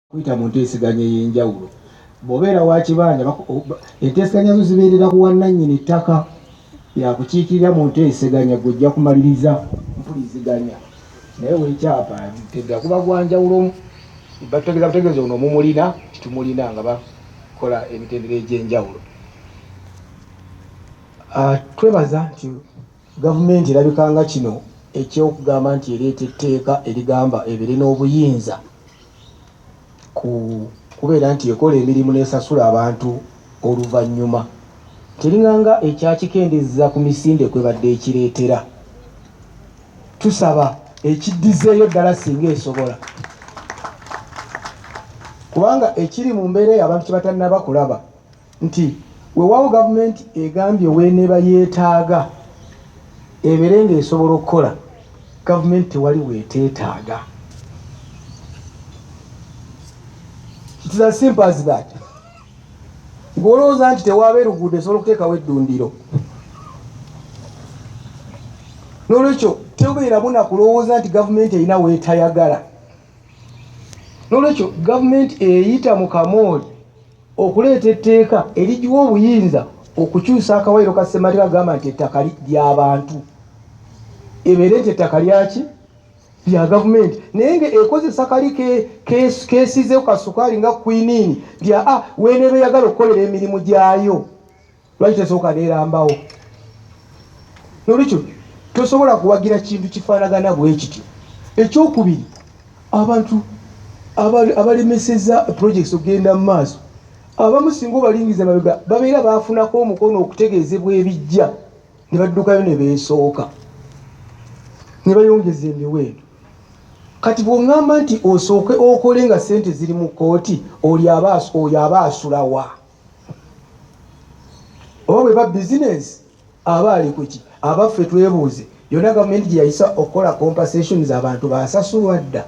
kuyita mu nteeseganya ey'enjawulo bw'obeera wa kibanja enteeseganya zo zibeerera ku wannannyini ttaka yakukiikirira mu nteeseganya gwe ojja kumaliriza mpuliziganya naye wekyapa tega kuba gwanjawulo bategeza butegeeza ono omumulina titumulina nga bakola emitendera egy'enjawulo ah, twebaza nti Gavumenti erabika nga kino eky'okugamba nti ereeta etteeka erigamba ebeere n'obuyinza ku kubeera nti ekola emirimu n'esasula abantu oluvannyuma, teringa nga ekyakikendezza ku misinde kwebadde ekireetera. Tusaba ekiddizzeeyo ddala singa esobola kubanga ekiri mu mbeera eyo abantu kye batannaba kulaba. nti wewaawo gavumenti egambye weneeba yetaaga ebeere nga esobola okukola gavumenti tewali weteetaaga It's as simple as that. Ngolowooza nti tewaaba eruguudo esobola okuteekawo eddundiro. N'olwekyo tebeera buna kulowooza nti gavumenti erina weetayagala. N'olwekyo gavumenti eyita mu kamooli okuleeta etteeka erigiwa obuyinza okukyusa akawayiro ka ssemateeka agamba nti ettaka lyabantu ebeere nti ettaka lyaki lya gavumenti naye nga ekozesa kali kesizeku kasukaali nga kwiniini lya a ah, weneeba eyagala okukolera emirimu gyayo lwaki tesooka nerambawo nolwekyo tosobola kuwagira kintu kifaanagana bwekityo ekyokubiri abantu abalemeseza projects okugenda mu maaso abamu singa obalingiza mabega babeera bafunako omukono okutegeezebwa ebijja ne baddukayo ne beesooka ne bayongeza emiwendo kati bw'oŋŋamba nti osooke okole nga ssente ziri mu kkooti oyo aba asulawa oba bwe ba bizinensi aba ali kuki abaffe twebuuze yonna gavumenti gye yayisa okukola compasations abantu basasulwa dda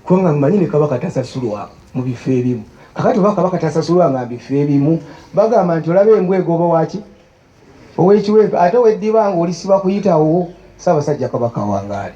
kubanga mumanyi ne kabaka tasasulwa mu bifo ebimu kakati oba kabaka tasasulwa nga mbifo ebimu bagamba nti olaba embwa egoba waki owekiwempe ate weddiba nga olisiba kuyitawo saabasajja kabaka wangaali